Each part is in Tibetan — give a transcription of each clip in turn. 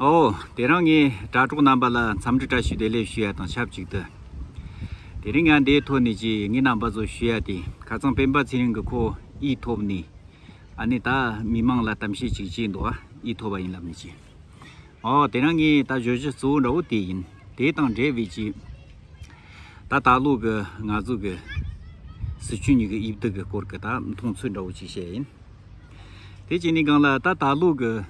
ཨོ། དེ་རིང་ངས་དྲ་གྲོགས་རྣམ་པ་ལ་འཚམས་འདྲི་བཀྲ་ཤིས་བདེ་ལེགས་ཞུ་ཡ་དང་ཆབས་ཅིག་ཏུ། དེ་རིང་ང་འདའི་ཐོག་ནས་ཅི་ངའི་རྣམ་པ་ཚོ་ཞུ་ཡ་དེ་ཁ་ཚང་སྤེན་པ་ཚེ་རིང་གི་ཁོ་ཨི་ཐོབ་ནས་ཨ་ནི་ད་མི་མང་ལ་གཏམ་བཤད་ཅིག་བྱས་འདུག་ཨ་ཨི་ཐོབ་པ་ཡིན་ལབ་ནས་ཅི། ཨོ་དེ་རིང་ངས་ད་བརྗོད་གཞི་གཙོ་བོ་འདྲ་བོ་དེ་ཡིན་དེ་དང་འབྲེལ་བའི་ཅི། ད་ད་ལོ་གི་ང་ཚོ་གི་སི་ཁྲོན་གཉིས་ཀྱི་དབྱིབས་རྡུག་གི་སྐོར་གྱི་ད་མཐོང་ཚུལ་འདྲ་བོ་ཅིག་བཤད་ཡིན། དེ་གཅིག་ནས་གང་ལ་ད་ད་ལོ་གི།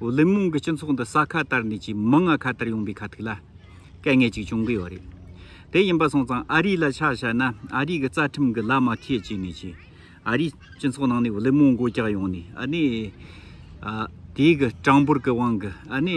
ཨོ་ལིམ་མོང་གི་སྤྱི་ཚོགས་འདི་ས་ཁ་ལྟར་ནས་ཀྱི་མི་ལྔ་ཁ་ལྟར་ཡོང་པའི་ཁ་ཐུག་ལ་སྐལ་ངེ་ཅིག་བྱུང་གི་ཡོད་རེད། དེ་ཡིན་པ་སོང་ཙང་ཨ་རི་ལ་ཆ་བཤད་ན་ཨ་རི་གི་རྩ་ཁྲིམས་གི་ལ་མ་ཐེ་བྱས་ནས་ཀྱི་ཨ་རི་སྤྱི་ཚོགས་ནང་ནས་ཨོ་ལིམ་མོང་གོ་རྒྱག་ཡོང་ནས་ཨ་ནི་དེའི་གི་གྲངས་འབོར་གི་དབང་གི་ཨ་ནི།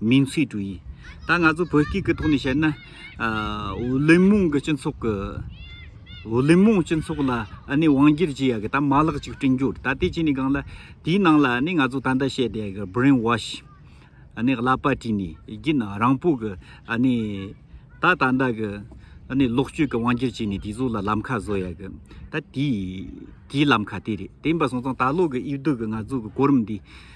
མིང་ཚིག་དྲུག་ཡིན། ད་ང་ཚོ་བོད་སྐད་ཀྱི་ཐོག་ནས་བཤད་ན། ཝུ་ལི་མོང་གི་སྤྱི་ཚོགས་ཀྱི། ཝུ་ལི་མོང་སྤྱི་ཚོགས་ལ་ནི་དབང་སྒྱུར་བྱེད་ཡག་གི་ད་མ་ལག་ཅིག་བསྐྲུན་རྒྱུ། ད་དེ་བྱས་ནས་གང་ལ། དེའི་ནང་ལ་ནི་ང་ཚོ་ད་ལྟ་བཤད་དེ་གི Brain Wash། ནི་གླ་པ་བྲིས་ནས་རྒྱུ་ནི་རང་སྤོ་གི། ནི། ད་ད་ལྟ་གི། ནི་ལོག་སྤྱོད་ཀྱི་དབང་སྒྱུར་བྱས་ནས་དེ་ཚོ་ལ་ལམ་ཁ་བཟོ་ཡག་གི། ད་དེའི། དེའི་ལམ་ཁ་དེ་རེད་དེ་ཡིན་པ་སོང་ཙང་ད་ལོ་གི་དབྱིབས་སྡུག་གི་ང་ཚོ་གི་གོ་རིམ་འདི།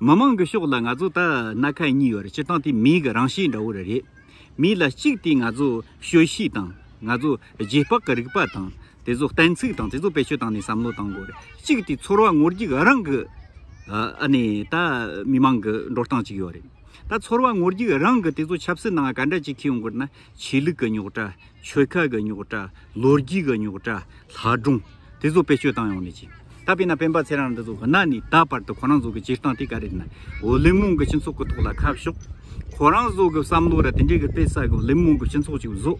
མི་མང་གི་ཕྱོགས་ལ་ང་ཚོ་ད་སྣ་ཁ་གཉིས་ཡོད་རེད་སྤྱིར་བཏང་དེ་མིའི་གི་རང་གཤིས་འདྲ་བོ་རེད་རེད། མི་ལ་གཅིག་དེ་ང་ཚོ་ཤོད་གཤིས་དང་ང་ཚོ་རྗེས་དཔག་གི་རིག་པ་དང་དེ་ཚོ་གཏན་ཚིགས་དང་དེ་ཚོ་བེད་སྤྱོད་བཏང་ནས་བསམ་བློ་བཏང་དགོས་རེད་གཅིག་དེ་ཚོར་བ་ངོར་རྒྱུག་རང་གི་ཨ་ནི་ད་མི་མང་གི་འགྲོ་སྟངས་གཅིག་ཡོད་རེད་ད་ཚོར་བ་ངོར་རྒྱུག་རང་གི་དེ་ཚོ་ཆབ་སྲིད་ནང་ག་འདྲ་གཅིག་ཁེལ་ཡོང་དགོས་རེད་ན་ཆོས་ལུགས་གི་རྙོག་དྲ་ཆོལ་ཁ་གི་རྙོག་དྲ། ལོ་རྒྱུས་ཀྱི་རྙོག་དྲ། ལྷ་སྒྲུང། དེ་ཚོ་བེད་སྤྱོད་བཏང་ཡོང་ནི་ཅིང། ད་དཔེར་ན་སྤེན་པ་ཚེ་རང་འདི་ཚོ་གནའ་ནས་ད་བར་དུ་ཁོ་རང་ཚོ་གི་སྤྱིར་བཏང་དེ་ག་རེད་ན། ཝུ་ལི་མོང་གི་སྤྱི་ཚོགས་ཀྱི་ཐོག་ལ་ཁ་ཕྱོགས། ཁོ་རང་ཚོ་གི་བསམ་བློ་ར་དེ་འདྲའི་གི་དཔེ་བསགས་གི་ཝུ་ལི་མོང་གི་སྤྱི་ཚོགས་ཅིག་བཟོ།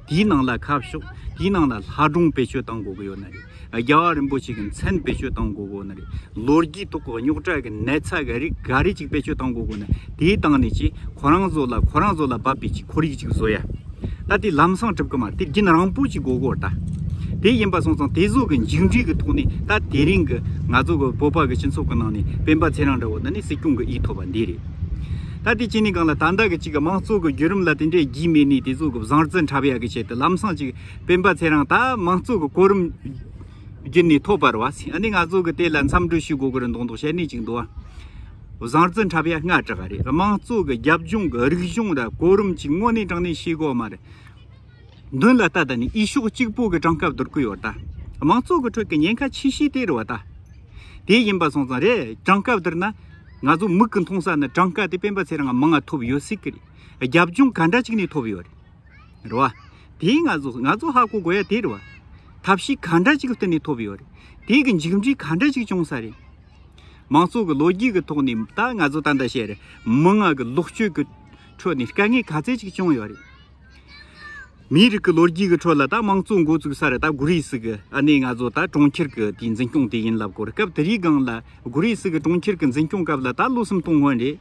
དེའི་ནང་ལ་ཁ་ཕྱོགས། དེའི་ནང་ལ་ལྷ་སྒྲུང་བེད་སྤྱོད་བཏང་དགོས་གི་ཡོད་ནི་རེད། རྒྱལ་བ་རིན་པོ་ཆེ་གི་མཚན་བེད་སྤྱོད་བཏང་དགོས་དགོས་ན་རེད། ལོ་རྒྱུས་ཐོག་གི་རྙོག་དྲ་གི་ནད་ཚ་གི་རིགས་འགའ་རེ་ཅིག་བེད་སྤྱོད་བཏང་དགོས་དགོས་ན་དེའི་སྟེང་ནས་ཀྱི་ཁོ་རང་ཚོ་ལ་ཁོ་རང་ཚོ་ལ་བབ་པའི་ཀྱི་ཁོར་ཡུག་ཅིག་བཟོ་ཡ། ད་དེ་ལམ་སང་གྲུབ་གི་མ་དེ་རྒྱུན་རང་པོ་ཅིག་དགོས་དགོས་རེད་ད། དེ་ཡིན་པ་སོང་ཙང་དེ་ཚོ་གི་མཇུག་འབྲས་གི་ཐོག་ནས་ད་དེ་རིང་གི་ང་ཚོ་གི་བོད་པ་གི་སྤྱི་ཚོགས་གི་ནང་ནས་སྤེན་པ་ཚེ་རང་འདྲ་བོ་འདི་ནི་སྲིད་སྐྱོང་གི་ཨི་ཐོབ་པ་འདི་རེད། ད་དེ་གཅིག་ནས་གང་ལ་ད་ལྟ་གི་ཅིག་གི་མང་གཙོ་གི་བརྒྱུད་རིམ་ལ་དེ་འདྲའི་རྒྱུས་མེད་ནས་དེ་ཚོ་གི་བཟང་རྩི་འཁྲབ་ཡ་གི་ཆེད་དུ་ལམ་སང་ཅིག་སྤེན་པ་ཚེ་རང་ད་མང་གཙོ་གི་གོ་རིམ་བརྒྱུད་ནས་ཐོབ་པར་བ་སི་ནི་ང་ཚོ་གི་དེ་ལ་མཚམས་སྒྲོས་ཞུ་དགོ་གི་རེད་མདོག་མདོག་བཤད་ནི་ཅིག་འདུག་བ་བཟང་རྩི་འཁྲབ་ཡ་ང་དྲག་རེད་དམངས་གཙོ་གི་རྒྱབ་ལྗོངས་གི་རིག་གཞུང་ལ་གོ་རིམ་ཅིག་དངོས་གནས་དྲང་གནས་ཤེས་དགོ་མ་རེད་མདུན་ལ་ད་ད་ནི་ཨི་ཤོག་གཅིག་པོ་གི་དྲང་སྐབས་དུར་ཁུ་ཡོ་ད་མང་གཙོ་གི་ཁྲོད་གི་ཉེན་ཁ་ཆེ་ཤེས་དེ་རུ་བ་ད་དེ་ཡིན་པ་སོང་ཙང་རེད་དྲང་སྐབས་དུར་ན་ང་ཚོ་མིག་གི་མཐོང་ས་ནི་དྲང་སྐབས་དེ་སྤེན་པ་ཚེ་རང་མང་ང་ཐོབ་ཡོ་སྲིད་གི་རེད་རྒྱབ་ལྗོངས་ག་འདྲ་ཅིག་ནས་ཐོབ་ཡོ་རེད། རེད་བ། དེའི་ང་ཚོ་ང་ཚོ་ཧ་གོ་དགོས་ཡ་དེ་རེད་བ། ཐབས་ཤེས་ག་འདྲ་ཅིག་བསྟུན་ནས་ཐོབ་ཡོད་རེད། དེ་གི་མཇུག་འབྲས་ག་འདྲ་ཅིག་བྱུང་ས་རེད། མང་ཚོགས་ཀྱི་ལོ་རྒྱུས་ཀྱི་ཐོག་ནས་ད་ང་ཚོ་ད་འདྲ་བྱས་རེད། མི་དམངས་ཀྱི་ལོག་སྤྱོད་ཀྱི་ཁྲོད་ནས་དཀའ་ངལ་ག་ཚད་ཅིག་བྱུང་ཡོད་རེད། མིའི་རིགས་ཀྱི་ལོ་རྒྱུས་ཀྱི་ཁྲོད་ལ་ད་མང་གཙོ་འགོ་བཙུགས་ས་རེད་ད་གུ་རིས་ཀྱི་ཨ་ནེ་ང་ཚོ་ད་གྲོང་ཁྱེར་གྱི་དེའི་འཛིན་སྐྱོང་དེ་ཡིན་ལབ་གོ་རེད་སྐབས་དེ་རིའི་སྒང་ལ་གུ་རིས་ཀྱི་གྲོང་ཁྱེར་གྱི་འཛིན་སྐྱོང་སྐབས་ལ་ད་བློ་སེམས་གཏོང་སྔོན་རེད།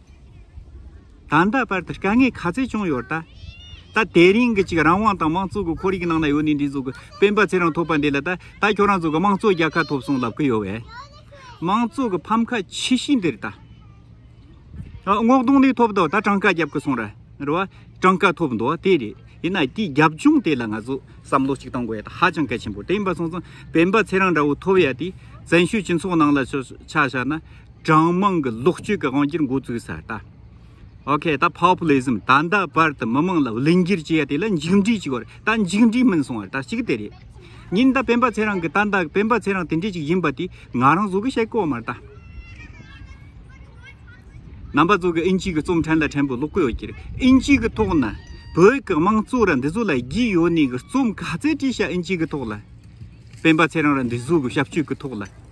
ད་ལྟ་བར་དུ་དཀའ་ངལ་ག་ཚད་བྱུང་ཡོད་ད། ད་དེ་རིང་གི་ཅིག་རང་དབང་དང་དམངས་གཙོ་གི་ཁོར་ཡིག་ནང་ན་ཡོད་ནི་འདི་ཚོ་གི་སྤེན་པ་ཚེ་རང་ཐོབ་པ་འདི་ལ་ད་ད་ཁྱོད་རང་ཚོ་གི་དམངས་གཙོ་རྒྱལ་ཁ་ཐོབ་སོང་ལབ་ཀི་ཡོད་བས། དམངས་གཙོ་གི་ཕམ་ཁ་ཆེ་བཞི་འདིར་ད། སྔོག་འདོང་ནི་ཐོབ་འདུག་ད་གྲངས་ཀ་རྒྱབ་ཀི་སོང་ར་རེད་བ། གྲངས་ཀ་ཐོབ་འདུག་དེ་རེད་ཡིན་ན་དེའི་རྒྱབ་ལྗོངས་དེ་ལ་ང་ཚོ་བསམ་བློ་ཅིག་གཏང་དགོས་ཡོད་ཧ་ཅང་གལ་ཆེན་པོ་དེ་ཡིན་པ་སོང་ཙང་སྤེན་པ་ཚེ་རང་འདྲ་བོ་ཐོབ་ཡ་དེ་བཙན་བྱོལ་སྤྱི་ཚོགས་ནང་ལ་ཆགས་ཤག་ན། གྲངས་དམངས་ཀྱི་ལོག་སྤྱོད་ཀྱི་དབང་གིར་འགོ་བཙུགས་ས་ད ok ད Populism ད་ད་བར་དུ་མི་དམངས་ལ་བླུན་སྒྱུར་བྱས་ཡ་དེ་ལ་མཇུག་འགྲིལ་གྱི་གོར་ད་མཇུག་འགྲིལ་མིན་སོང་བར་ད་གཅིག་དེ་རེད། ཉིན་ད་སྤེན་པ་ཚེ་རང་གི་ད་ད་སྤེན་པ་ཚེ་རང་དེ་འདྲས་ཅིག་ཡིན་པ་དེ་ང་རང་བཟོ་གི་བཤད་ཀོ་མར་ད། རྣམ་པ་གཙོ་གི་ཨིན་ཇི་གི་རྩོམ་ཕྲན་ལ་ཕྲན་བུ་ཀློག་གི་ཡོད་ཀྱིར་ཨིན་ཇི་གི་ཐོག་ན་བོད་ཀྱི་དམངས་གཙོ་ར་འདི་བཟོ་ལ་བགྱིད་ཡོད་ནས་གི་རྩོམ་ག་ཚད་བྲིས་ཤ་ཨིན་ཇི་གི་ཐོག་ལ། སྤེན་པ་ཚེ་རང་ར་འདི་བཟོ་གི་བྱབ་ཆོས་ཀྱི་ཐོག་ལ།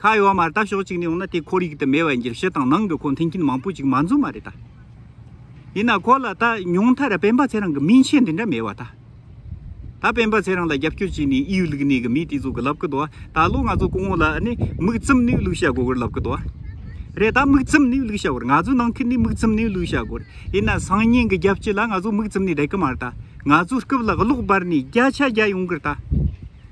ཁ་ཡོ་མར་ལྟ་ཞོག་གཅིག་ནས་ཡོང་ན་དེ་ཁོར་ཡུག་དུ་མེད་པ་ཡིན་གྱི་ཕྱི་དང་ནང་གི་ཁོ་མཐུན་རྐྱེན་མང་པོ་ཅིག་མ་འཛོམས་མ་རེད་ད། ཡིན་ན་ཁོ་ལ་ད་ཉུང་མཐར་སྤེན་པ་ཚེ་རང་གི་མིང་ཆེན་འདི་འདྲ་མེད་བ་ད། ད་སྤེན་པ་ཚེ་རང་ལ་རྒྱབ་སྐྱོར་བྱས་ནས་ཨིའུ་ལུགས་ནས་གི་མི་དེ་ཚོ་གི་ལབ་གི་དོ་ད་ལོ་ང་ཚོ་སྐུ་ངོ་ལ་ནི་མིག་བཙུམ་ནས་ལུགས་བྱ་དགོས་གི་ལབ་གི་དོ། རེད་ད་མིག་བཙུམ་ནས་ལུགས་བྱ་དགོས་ང་ཚོ་ནང་ཁུལ་ནས་མིག་བཙུམ་ནས་ལུགས་བྱ་དགོས་ཡིན་ན་སང་ཉིན་གི་རྒྱབ་སྐྱོར་ལ་ང་ཚོ་མིག་བཙུམ་ནས་བསྡད་གི་མ་རེད་ད་ང་ཚོ་སྐུབ་ལ་གློག་སྦར་ནས་རྒྱ་ཆ་རྒྱ་ཡོང་གི་རེད་ད།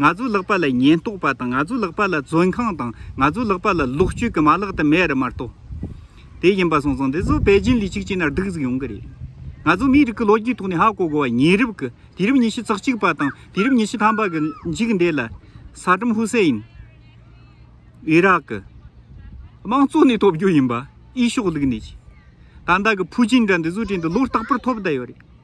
ང་ཚོའི་ལག་པ་ལ་ཉེན་རྟོག་པ་དང་ང་ཚོའི་ལག་པ་ལ་བཙོན་ཁང་དང་ང་ཚོའི་ལག་པ་ལ་ལོག་སྤྱོད་ཀྱི་མ་ལག་དུ་མས་རི་མ་གཏོགས་དེ་ཡིན་པ་སོང་སོང་འདི་ཚོ་པེ་ཅིན་ལས་གཅིག་ཅིག་ན་སྡུག་ཟིག་ཡོང་གི་རེད། ང་ཚོ་མིའི་རིགས་ཀྱི་ལོ་རྒྱུས་ཐོག་ནས་ཧ་གོ་དགོ་བ་ཉེ་རབས་ཀྱི་དུས་རབས་ཉི་ཤུ་རྩག་གཅིག་པ་དང་དུས་རབས་ཉི་ཤུ་ཐམ་པ་གྱི་མཇུག་འདས་ལ་ས་ཏྲམ་ཧུ་སེ་ཡིན་ཨི་རག་གི་དམངས་གཙོ་ནས་ཐོབ་རྒྱུ་ཡིན་པ་ཨི་ཤོག་ལུག་ནས་ཀྱི་ད་ལྟ་གི་ཕུ་ཅིན་འདྲ་འདི་ཚོའི་གྲས་འདི་ལོ་རྟག་པར་ཐོབ་བསྡད་ཡོད་རེད།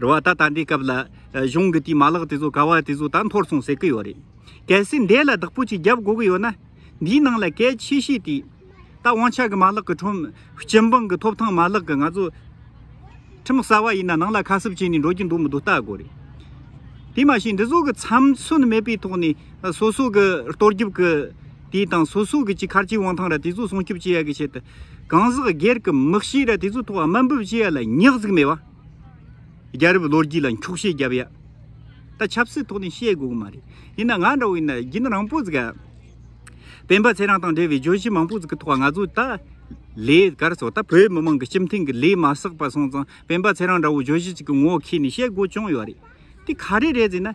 རེད་བ་ད་ད་འདི་སྐབས་ལ་གཞུང་གི་དེའི་མ་ལག་དེ་ཚོ་ག་བ་དེ་ཚོ་ད་འཐོར་སོང་ཟེར་གི་ཡོད་རེད། གལ་སྲིད་འདས་ལ་བདག་པོ་ཅིག་རྒྱབ་དགོས་གི་ཡོད་ན། འདིའི་ནང་ལ་གལ་ཆེ་ཤོས་དེ། ད་དབང་ཆ་གི་མ་ལག་གི་ཁྲོམ། སྤྱི་འབངས་ཀྱི་ཐོབ་ཐང་མ་ལག་གི་ང་ཚོ། ཁྲིམས་གསར་བ་ཡིན་ན་ནང་ལ་ཁ་གསབ་བྱས་ནས་འགྲོ་གི་འདུག་མི་འདུག་བལྟ་དགོས་རེད། དེ་མ་ཤེས་འདི་ཚོ་གི་ཚམ་ཚོན་མེད་པའི་ཐོག་ནས་སོ་སོ་གི་ལྟོ་རྒྱབ་ཀྱི། དེའི་དང་སོ་སོ་གི་ཅི་ཁར་ཅི་དབང་ཐང་ར་དེ་ཚོ་སྲུང་སྐྱོབ་བྱེད་ཡ་གི་ཆེད་དུ། གང་ཟག་སྒེར་གི་མི་གཤིས་ར་དེ་ཚོ་ཐོག་དམའ་འབུབ་བྱེད་ཡ་ལ་ཉག་གཟིགས་མེད་བ། རྒྱ་རབས་ལོ་རྒྱུས་ལ་འཁྱོག་བཤད་རྒྱབ་ཡ། ད་ཆབ་སྲིད་ཐོག་ནས་བཤད་དགོས་གི་མ་རེད། ཡིན་ན་ང་འདྲ་བོ་ཡིན་ན་རྒྱུན་རང་པོ་ཟིག་ག། སྤེན་པ་ཚེ་རང་དང་འབྲེལ་བའི་བརྗོད་གཞི་མང་པོ་ཟིག་གི་ཐོག་ང་ཚོས་ད། ལས་ཀར་སོ་ད་བོད་མི་དམངས་ཀྱི་སྤྱི་མཐུན་གྱི་ལས་མ་བསགས་པ་སོང་ཙང་སྤེན་པ་ཚེ་རང་འདྲ་བོ་བརྗོད་གཞི་ཅིག་གི་ངོ་ཁེ་ནས་བཤད་དགོས་བྱུང་ཡོད་རེད། དེ་ག་རེ་རེད་ཟེར་ན།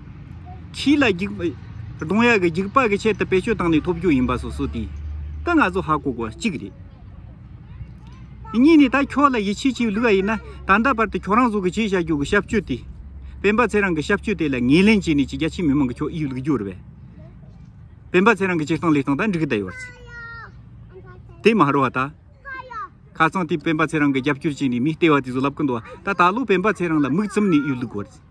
ཁྱི་ལ་རྒྱུག། གདོང་ཡག་གི་རྒྱུག་པ་གི་ཆེད་དུ་བེད་སྤྱོད་བཏང་ནས་ཐོབ་རྒྱུ་ཡིན་པ་སོ་སོ་དེ། ད་ང་ཚོ་ཧ་གོ་གོ་གཅིག་རེད། གཉིས་ནས་ད་ཁྱོད་ལ་ཡིད་ཆེས་བྱེད་ལུགས་ཡིན་ན། ད་ལྟ་བར་དུ་ཁྱོད་རང་ཚོ་གི་བྱས་བྱ་རྒྱུ་གི་བྱབ་སྤྱོད་དེ། བན་པ་ཚེ་རང་གི་བྱབ་སྤྱོད་དེ་ལ་ངེས་ལེན་བྱས་ནས་ཀྱི་རྒྱ་ཆེའི་མི་མང་གི་ཁྱོད་ཡིད་ལུགས་འགྱུར་བས། བན་པ་ཚེ་རང་གི་སྤྱིར་བཏང་ལས་སྟངས་དང་འགྲིག་བསྡད་ཡོད། དེ་མ་རོ་ད། ཁ་སང་དེ་བན་པ་ཚེ་རང་གི་རྒྱབ་སྐྱོར་བྱས་ནས་མི་སྟེར་བ་དེ་ཚོ་ལབ་ཀི་འདུག་ད་ད་ལོ་བན་པ་ཚེ་རང་ལ་མིག་བཙུམ་ནས་ཡོད་ལུགས།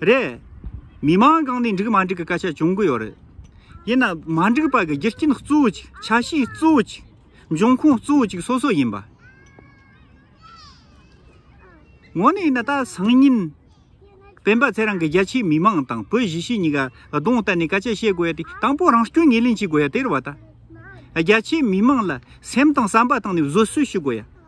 རེད། མི་མང་གང་ནས་འགྲིག་མ་འགྲིག་གི་སྐད་ཆ་བྱུང་གི་ཡོད་རེད། ཡིན་ན་མ་འགྲིག་པ་གི་རྒྱུ་རྐྱེན་གཙོ་བོ་གཅིག་ཆ་ཤས་གཙོ་བོ་གཅིག་འབྱུང་ཁུངས་གཙོ་བོ་གཅིག་སོ་སོ་ཡིན་པ། ངོ་ནས་ཡིན་ན་ད་སང་ཉིན། སྤེན་པ་ཚེ་རང་གི་རྒྱ་ཆེའི་མི་མང་དང་བོད་གཞིས་བྱེས་གཉིས་ཀ་གདོང་གཏད་ནས་སྐད་ཆ་བཤད་དགོས་ཡ་དེ་དང་པོ་རང་སྐྱོན་ངེས་ལེན་བྱེད་དགོས་ཡ་དེར་བ་ད། རྒྱ་ཆེའི་མི་མང་ལ་སེམས་དང་བསམ་པ་བཏང་ནས་བཟོད་གསོལ་ཞུ་དགོས་ཡ།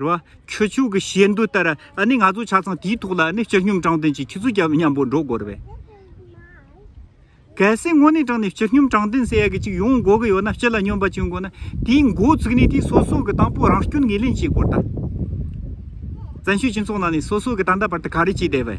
རེད་བ། ཁྱོད་ཆོས་ཀྱི་བྱེད་འདོད་ལྟར་ཨ་ནི་ང་ཚོ་ཆ་ཚང་དེའི་ཐོག་ལ་ཨ་ནི་སྤྱི་སྙོམས་དྲང་བདེན་གྱི་ཁྱི་ཚུ་རྒྱབ་མཉམ་པོ་འགྲོ་དགོས་རེད་བས། གལ་སྲིད་དངོས་གནས་དྲང་ནས་སྤྱི་སྙོམས་དྲང་བདེན་ཟེར་ཡ་གི་ཅིག་ཡོང་དགོས་ཀྱི་ཡོད་ན་སྤྱི་ལ་སྙོམས་པ་བྱེད་དགོས་ན་དེའི་མགོ་བཙུགས་ནས་དེའི་སོ་སོ་གི་དང་པོ་རང་སྐྱོན་ངོས་ལེན་བྱེད་དགོས་རེད་བསྟན། བཙན་བྱོལ་སྤྱི་ཚོགས་ནང་ནས་སོ་སོ་གི་ད་ལྟ་བར་དུ་ག་རེ་བྱས་བསྡད་བས།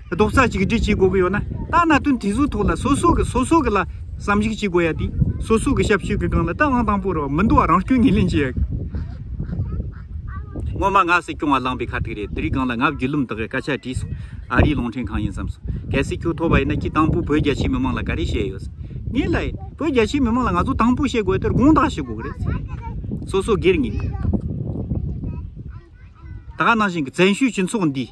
རྡོག་རྩ་གཅིག་སྒྲིལ་བྱེད་དགོས་ཀྱི་ཡོད་ན། ད་ན་དོན་དེ་ཚོའི་ཐོག་ལ་སོ་སོ་གི་སོ་སོ་གི་ལ་བསམ་གཞིགས་བྱེད་དགོས་ཡ་དེ། སོ་སོ་གི་ཞབས་ཞུ་གི་སྒང་ལ་ཏང་ཨང་དང་པོར་མི་འདུ་བ་རང་སྐྱོན་ངེས་ལེན་བྱེད་ཡ། སྔོན་མ་ང་སྲིད་སྐྱོང་བ་བླངས་པའི་ཁ་ཐུག་རེད་དེ་རིགས་སྒང་ལ་ང་བརྒྱུད་ལུམ་དག་གི་སྐད་ཆ་དྲིས་སོང། ཨ་རིའི་གླིང་ཕྲན་གང་ཡིན་བསམས་སོང་གལ་སྲིད་ཁྱོད་ཐོབ་པ་ཡིན་ན་ཁྱི་དང་པོ་བོད་རྒྱ་ཆེའི་མི་མང་ལ་ག་རེ་བཤད་ཡོད་ཟེར། ངས་ལ་ཡིན་བོད་རྒྱ་ཆེའི་མི་མང་ལ་ང་ཚོ་དང་པོ་བཤད་དགོས་ཡ་དེར་དགོངས་དག་བྱེད་དགོས་ཀྱི་རེད་ཟེར། སོ་སོ་སྒེར་ངེས། ད་གནང་བཞིན་གྱི་བཙན་བྱོལ་སྤྱི་ཚོགས་འདིས་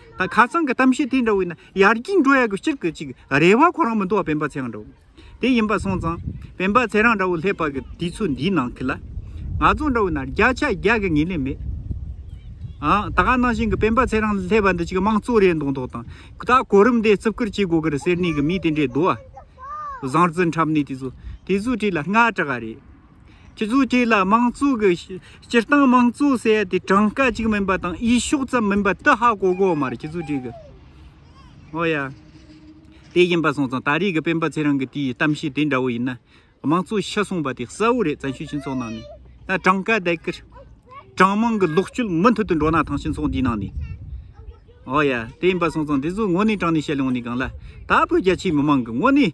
ད་ཁ་སང་གི་གཏམ་བཤད་དེ་འདྲ་བས་ན་ཡར་རྒྱས་འགྲོ་ཡག་གི་སྤྱིར་གི་ཅིག་རེ་བ་ཁོ་རང་མི་འདུག་བ་བན་པ་ཚེ་རང་འདྲ་བོ་དེ་ཡིན་པ་སོང་ཙང་བན་པ་ཚེ་རང་འདྲ་བོ་སླེབས་པ་གི་དུས་ཚོད་འདིའི་ནང་གི་ལ་ང་ཚོ་འདྲ་བོ་ན་རྒྱ་ཆ་རྒྱག་གི་ངེས་ལེ་མེད། ཨང་ད་ག་ནང་བཞིན་གི་བན་པ་ཚེ་རང་སླེབས་པ་འདི་ཅིག་དམངས་གཙོ་རེད་མདོག་མདོག་དང་ད་གོ་རིམ་དེ་བརྩི་བཀུར་བྱེད་དགོས་གི་རེད་ཟེར་ནས་གི་མི་དེ་འདྲས་འདུག་བ། བཟང་བརྩི་འཁྲབ་ནས་དེ་ཚོ་དེ་ཚོ་བྲིས་ལ་སྔ་དྲག་ག་རེད། སྤྱི་ཚོགས་གཅིག་ལ་དམངས་གཙོ་གི་སྤྱིར་བཏང་དམངས་གཙོ་ཟེར་ཡ་དེ་གྲངས་ཀ་གཅིག་མིན་པ་དང་དབྱེ་ཕྱོགས་ཙམ་མིན་པ་དེ་ཧ་གོ་གོ་མ་རེད་སྤྱི་ཚོགས་གཅིག་གི་འོ་ཡ། དེ་ཡིན་པ་སོང་ཙང་ད་རེས་ཀྱི་སྤེན་པ་ཚེ་རིང་གི་དེའི་གཏམ་བཤད་དེ་འདྲ་བོ་ཡིན་ན་དམངས་གཙོ་ཤི་སོང་བ་དེ་གསལ་བོ་རེད་བཙན་བྱོལ་སྤྱི་ཚོགས་ནང་ནས་ད་གྲངས་ཀ་དེ་ཀི་གྲངས་མང་གི་ལོག་སྤྱོད་མུ་མཐུད་དུ་འགྲོ་ན་ཐང་སྤྱི་ཚོགས་འདིའི་ནང་ནས་འོ་ཡ་དེ་ཡིན་པ་སོང་ཙང་དེ་ཚོ་དངོས་གནས་དྲང་ནས་བཤད་ལོང་ནས་གང་ལ་ད་བོད་རྒྱ་ཆེའི་མི་མང་གི་དངོས་གནས།